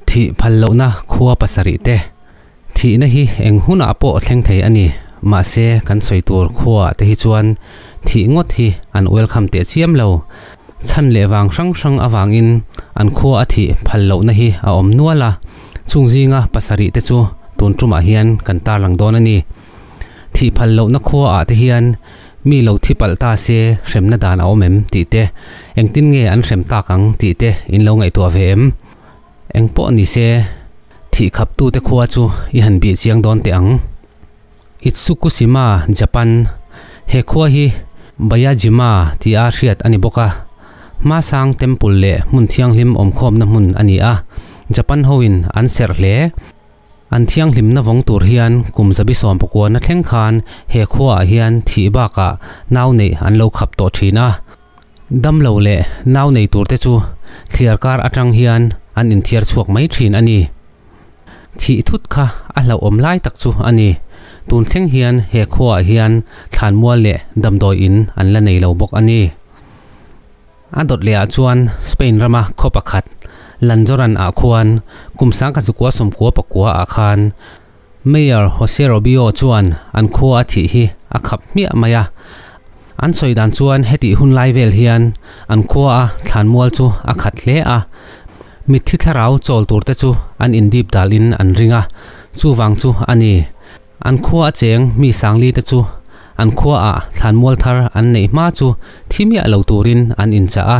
Thih phal lohna khua pasarih te thihna hi eng hunah pawh thleng thei a ni. Mahse kan sawi tur khua te hi chuan thih ngawt hi an welcome teh chiam lo. Chhan leh vang hrang hrang avangin an khua a thih phal lohna hi a awm nual a. Chung zinga pasarih te chu tun tumah hian kan tarlang dawn a ni. Thih phal lohna khua ah te hian mi lo thi palh ta se hremna dan a awm em tih te, engtin nge an hrem tak ang tih te in lo ngaihtuah ve em? Eng pawh ni se, thih khap tu te khua chu i han bih chiang dawn teh ang. Itsukushima, Japan, He khua hi Bayajima tia hriat a ni bawk a, Hmasang Temple leh hmun thianghlim awm khawmna hmun a ni a, Japan ho in an serh hle. An thianghlimna vawng tur hian kum zabi sawm pakuana thleng khan he khuaah hian thih bakah nau neih an lo khap tawh thin a. Damlo leh nau nei tur te chu thliar kar atang hian an inthiar chhuak mai thin a ni. Thih thut kha a hlauhawm lai tak chu a ni. Tun thleng hian he khuaah hian thlanmual leh damdawi in an la nei lo bawk a ni. A dawt leh ah chuan Spain rama khaw pakhat Lanzoran ah khuan kum sangka zukua sawmkua pakua ah khan Mayor Jose Robio chuan an khua a thih hi a khap hmiah mai a. An sawi dan chuan heti hun lai vel hian an khua a thlan mual chu a khat hle a, mitthi thlarau chawl tur te chu an in dip dal in an ring a, chuvang chu a ni An khua a cheng mi sangli te chu an khua ah thlanmual thar an neih hma chu thimiah lo turin an inchah a,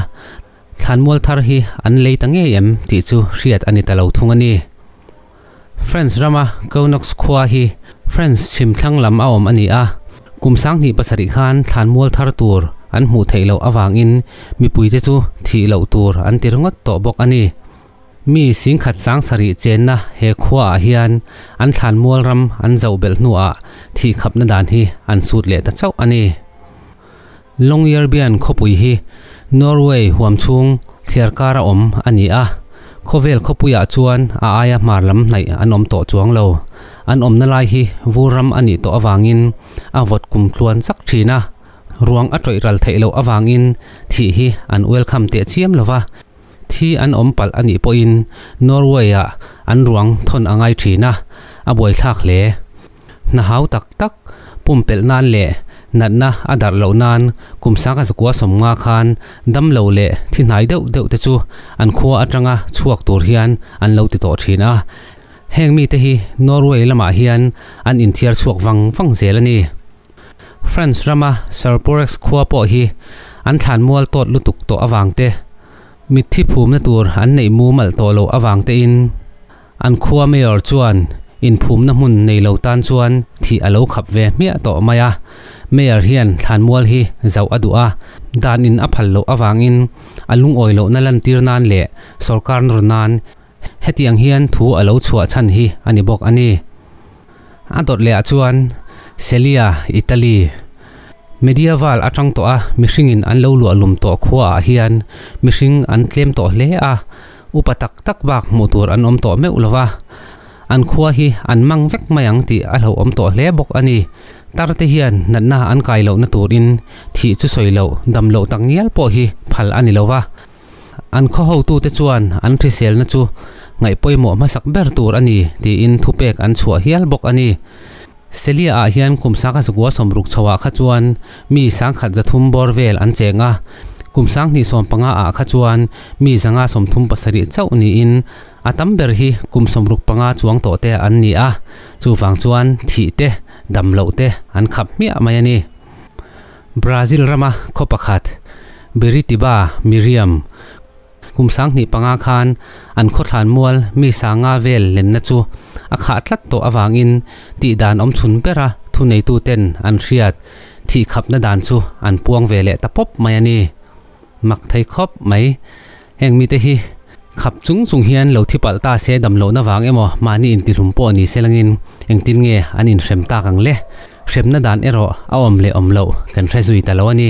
thlanmual thar hi an lei ta ngei em tih chu hriat a ni ta lo thung a ni. French rama Conox khua hi French chhim thlang lam a awm a ni a, kum sanghnih pasarih khan thlanmual thar tur an hmuh theih loh avangin mipui te chu thih loh tur an tir ngawt tawh bawk a ni. Mi singkhat sang sarih chenna he khuaah hian an thlan mual ram an zoh belh hnuah thih khapna dan hi an sut leh ta chauh a ni. Longyearbyen khawpui hi Norway huam chhung thliar kara awm a ni a, khawvel khawpuiah chuan a aia hmar lam hnaih an awm tawh chuang lo. An awmna lai hi vur ram a nih tawh avangin a vawt kum tluan chak thin a, ruang a tawih ral theih loh avangin thih hi an welcome teh chiam lo va, Thi an awm palh a nih pawhin Norway-a an ruang thawn a ngai thin a, a buaithlak hle. Hna hau tak tak, pum pelh nan leh natna a darh loh nan kum sangha zakua sawm nga khan damlo leh thi hnai deuh deuh te chu an khua atanga chhuak tur hian an lo ti tawh thin a. Heng mite hi Norway lamah hian an inthiar chhuak vang vang zel a ni. France rama Serporex khua pawh hi an thlan mual tawt lutuk tawh avangte, mitthi phumna tur an neih mumal tawh loh avangtein an khua mayor chuan inphumna hmun nei lo tan chuan thih a lo khap ve hmiah tawh mai a. Mayor hian thlan mual hi zauh a duh a, dan in a phal loh avangin a lungawi lohna lantir nan leh sorkar nawr nan, Hetiang hian thu a lo chhuah chhan hi a ni bawk a ni. A dawt leh ah chuan Celia, Italy, Medieval atang tawha mihringin an lo luah lum tawh khua ah hian mihring an tlem tawh hle a, upa tak tak bak hmuh tur an awm tawh meuh lo va. An khua hi an mang vek mai ang tih a hlauhawm tawh hle bawk a ni. Tar te hian natna an kai lohna turin thih chu sawi loh, dam loh tak ngial pawh hi phal a ni lo va. An khaw hotute chuan an hriselna chu ngaihpawimawh hmasak ber tur a ni tiin thupek an chhuah hial bawk a ni. Celia ah hian kum sangha sagua sawmruk chho ah kha chuan mi sangkhat za thum bawr vel an cheng a, kum sang hnih sawm panga ah kha chuan mi zanga sawm thum pasarih chauh niin a tam ber hi kum sawmruk panga chuang tawh te an ni a, chuvang chuan thih te, damloh te an khap hmiah mai a ni. Brazil rama khaw pakhat Biritiba Miriam kum sanghnih panga khan an khawthlan mual mi sanga vel lenna chu a khah tlat tawh avangin tih dan awm chhun bera thuneituten an hriat thih khapna dan chu an puang ve leh ta pawp mai a ni. Mak thei khawp mai. Heng mite hi khap chung chung hian lo thi palh ta se dam lohna vang emaw mahni intihlum pawh ni selangin engtin nge an inhrem tak ang le? Hremna dan erawh a awm leh awm loh kan hre zui ta lo a ni.